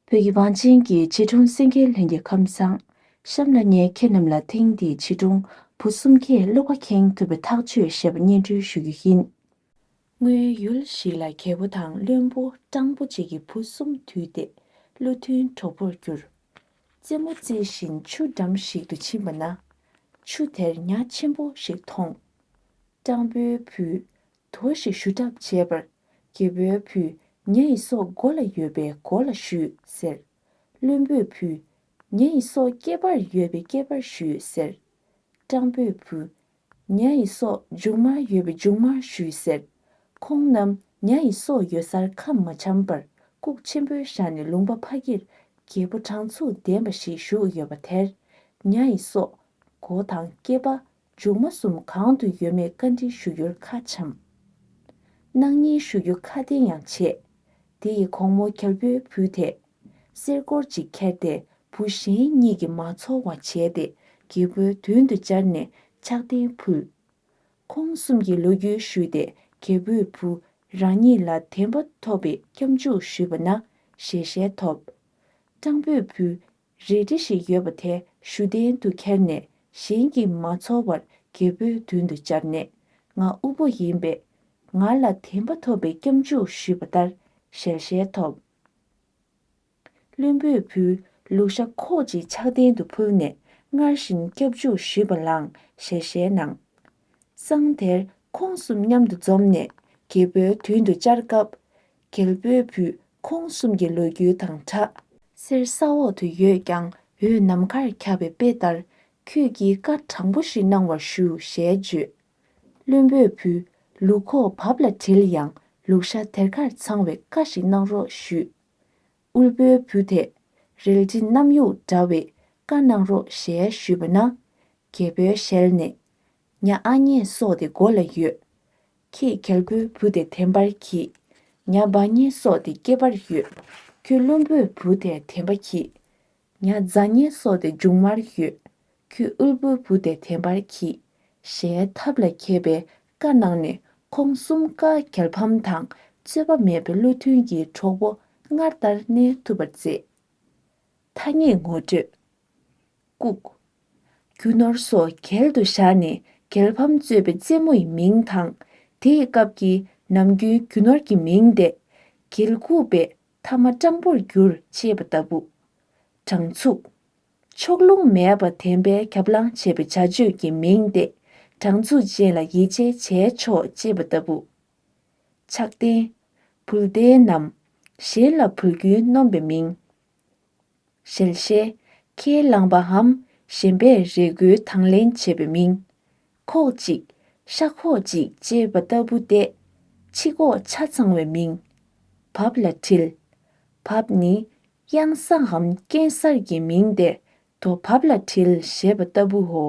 བོད་ཀྱི་བང་ཆེན་གྱི་བྱིས་སྒྲུང་སེང་གེའི་ལྷན་རྒྱས་ཁམས་བཟང། གཤམ་ལ་ངས་ཁྱེད་རྣམས་ལ་ཐེངས་འདིའི་བྱིས་སྒྲུང་བུ་གསུམ་གྱི་བློ་ཁ་ཁེངས་ཐུབ་པའི་ཐག་གཅོད་ཞེས་པ་སྙན་སྒྲོན་ཞུ་རྒྱུ་ཡིན། སྔོན་ཡུལ་ཞིག་ལ་རྒྱལ་པོ་དང་བློན་པོ་སྤྲང་པོ་གཅིག་གི་བུ་གསུམ་དུས་ཏེ་བློ་མཐུན་གྲོགས་པོར་གྱུར། རྩེད་མོ་རྩེ་བཞིན་ཆུ་འགྲམ་ཞིག་ཏུ་ཕྱིན་པ་ན། ཆུ་དེར་ཉག་ཆེན་པོ་ཞིག་མཐོང། སྤྲང་པོའི་བུས་དོ་ཞེས་ཞུ་གྲབས་བྱས་པར། རྒྱལ་པོའི་བུ། ངེད་ཡི་སྲོག་མགོ་ལ་ཡོད་པས་མགོ་ལ་ཞུས་ཟེར། བློན་པོའི་བུ། ངེད་ཡི་སྲོག་རྐེད་པར་ཡོད་པས་རྐེད་པར་ཞུས་ཟེར། སྤྲང་པོའི་བུ། ངེད་ཡི་སྲོག་མཇུག་མར་ཡོད་པས་མཇུག་མར་ཞུས་ཟེར། ཁོང་རྣམས་ངེད་ཡི་སྲོག་ཡོད་སར་ཁམས་མ་འཆམ་པར་ལྐུགས་ཆེན་པོའི་ཞག་ནས་ལུང་པ་ཕ་གིར་རྒྱལ་པོ་དྲང་ཚུགས་ལྡན་པ་ཞིག་བཞུགས་ཡོད་པ་དེར། ངེད་ཡི་སྲོག་མགོ་དང་རྐེད་པ་མཇུག་མ་གསུམ་གང་དུ་ཡོད་མེད་བཀའ་དྲིན་ཞུ་རྒྱུར་ཁ་འཆམས། གནང་སྙིང་ཞུ་རྒྱུ་ཁ་བདེ་ཡང་བྱེད། དེ་ཡི་གོང་མོ་གར་བུའི་བུ་དེས། གསེར་སྐོར་ཅིག་ཁྱེར་ཏེ་བུ་གཞན་གཉིས་ཀྱིས་མ་ཚོར་བ་བྱས་ཏེ་རྒྱལ་པོའི་མདུན་དུ་སྦྱར་ནས་ཕྱག་རྟེན་ཕུལ། ཁོང་གསུམ་གྱིས་ལོ་རྒྱུས་ཞུས་ཏེ་གར་བུའི་བུ་རང་ཉིད་ལ་དད་པ་ཐོབ་པའི་སྐྱབས་འཇུག་ཞུས་པ་ན་ཞལ་ཞལ་ཐོབ། སྤྲང་པོའི་བུ་རལ་གྲི་ཞིག་ཡོད་པ་དེ་ཞུ་གཏན་དུ་ཁྱེར་ནས་གཞན་གྱིས་མ་ཚོར་བར་རྒྱལ་པོའི་མདུན་དུ་བཅར་ནས་ང་དབུལ་པོ་ཡིན་པས། ང་ལ་དེ་འབའ་ཐོབ་པའི་སྐྱབས་འཇུག་ཞུས་པ་ལྟར་ཞལ་ཞལ་ཐོབ། བློན་པོས་བུ་ལུག་ཤ་ཁོག་ཅིག་ཕྱག་གདན་དུ་ཕུལ་ནས་སྔར་བཞིན་སྐྱབས་འཇུག་ཞུས་པ་ལའང་ཞལ་ཞལ་གནང། སང་དེར་ཁོང་གསུམ་མཉམ་དུ་འཛོམས་ནས་རྒྱལ་པོའི་མདུན་དུ་བཅར་སྐབས། གལ་པོའི་བུ་ཁོང་གསུམ་གྱི་ལོ་རྒྱུས་དང་གྲགས། གསེར་ས་འོག་ཏུ་ཡོད་ཀྱང་འོད་ནམ་མཁར་ཁྱབ་པའི་དཔེ་ལྟར་ཁྱོད་ཀྱིས་བཀའ་དྲང་པོ་ཞིག་གནང་བར་ཞུ་ཞེས་བརྗོད། བློན་པོས་བུ་ལུག་ཁོག་བབས་ལ་དྲིལ་ཡང་ལུག་ཤ་དེར་ཁར་འཚང་བའི་བཀའ་ཞིག་གནང་རོགས་ཞུས། དབུལ་པོའི་བུ་དེས་རལ་གྲི་གནམ་ཡུག་འདྲ་བའི་བཀའ་གནང་རོགས་ཞེས་ཞུས་པ་ན། རྒྱལ་པོའི་ཞལ་ནས། མྱ་ཨ་མྱེ་སོགས་དེ་མགོ་ལ་ཡོད། ཁྱེད་གལ་པོའི་བུ་དེ་དེམ་པར་གྱིས། མྱ་འབའ་མྱེ་སོགས་དེ་སྐྱེས་པར་ཡོད། ཁྱོད་བློན་པོའི་བུ་དེ་དེམ་པ་གྱིས། མྱ་ཛ་མྱེ་སོགས་དེ་མཇུག་མར་ཡོད། ཁྱོད་དབུལ་པོའི་བུ་དེ་དེམ་པར་གྱིས། ཞེས་ཐབས་ལ་མཁས་པའི་བཀའ་གནང་ནས་ཁོང་གསུམ་བཀའ་གལ་ཕམ་དང་རྩོད་པ་མེད་པའི་བློ་མཐུན་གྱི་གྲོགས་པོ་སྔར་ལྟར་གནས་ཐུབ་པར་མཛད། ཐ་སྙད་ངོ་སྤྲོད། བཀུག། རྒྱུ་ནོར་སོགས་གྱེལ་དུ་བཞག་ནས་གྱེལ་ཕམ་གཙོས་པའི་རྩེད་མོ་ཡི་མིང་དང། དེ་ཡི་སྐབས་ཀྱི་ནམ་རྒྱུན་རྒྱུ་ནོར་གྱི་མིང་འདས། གྱེལ་བཀུག་པས་ཐ་མ་སྤྲང་པོར་བསྒྱུར་ཅེས་པ་ལྟ་བུ། དྲང་ཚུགས། ཕྱོགས་ལྷུང་མེད་པར་དན་པས་ཁྱབ་ལངས་བྱེད་པའི་བྱ་སྤྱོད་ཀྱི་མིང་འདས། དྲང་ཚུགས་ཅན་ལ་ཡིད་ཆེས་བྱས་ཆོག་ཅེས་པ་ལྟ་བུ། ཆགས་ལྡན། བུལ་ལྡན་ནམ། གཞན་ལ་བུལ་རྒྱུན་སྣོམ་པའི་མིང། ཞལ་བཞེས། ཁས་བླངས་པའམ་གཞན་པས་རས་མགུལ་དང་ལེན་བྱས་པའི་མིང། ཁོག་ཅིག། ཤ་ཁོག་ཅིག་ཅེས་པ་ལྟ་བུ་སྟེ། ཕྱི་ཁོག་ཆ་ཚང་བའི་མིང། བབས་ལ་དྲིལ། བབས་ནི། གཡང་སའམ་སྐྱེས་གསར་གྱི་མིང་སྟེ་དོ་བབས་ལ་དྲིལ་ཞེས་པ་ལྟ་བུའོ།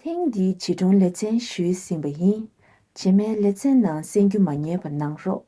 ཐེངས་འདིའི་བྱིས་སྒྲུང་ལེ་ཚན་ཞུས་ཟིན་པ་ཡིན། བྱེ་མའི་ལེ་ཚན་ནང་གསན་རྒྱུ་མ་རྙེད་པ་གནང་རོགས།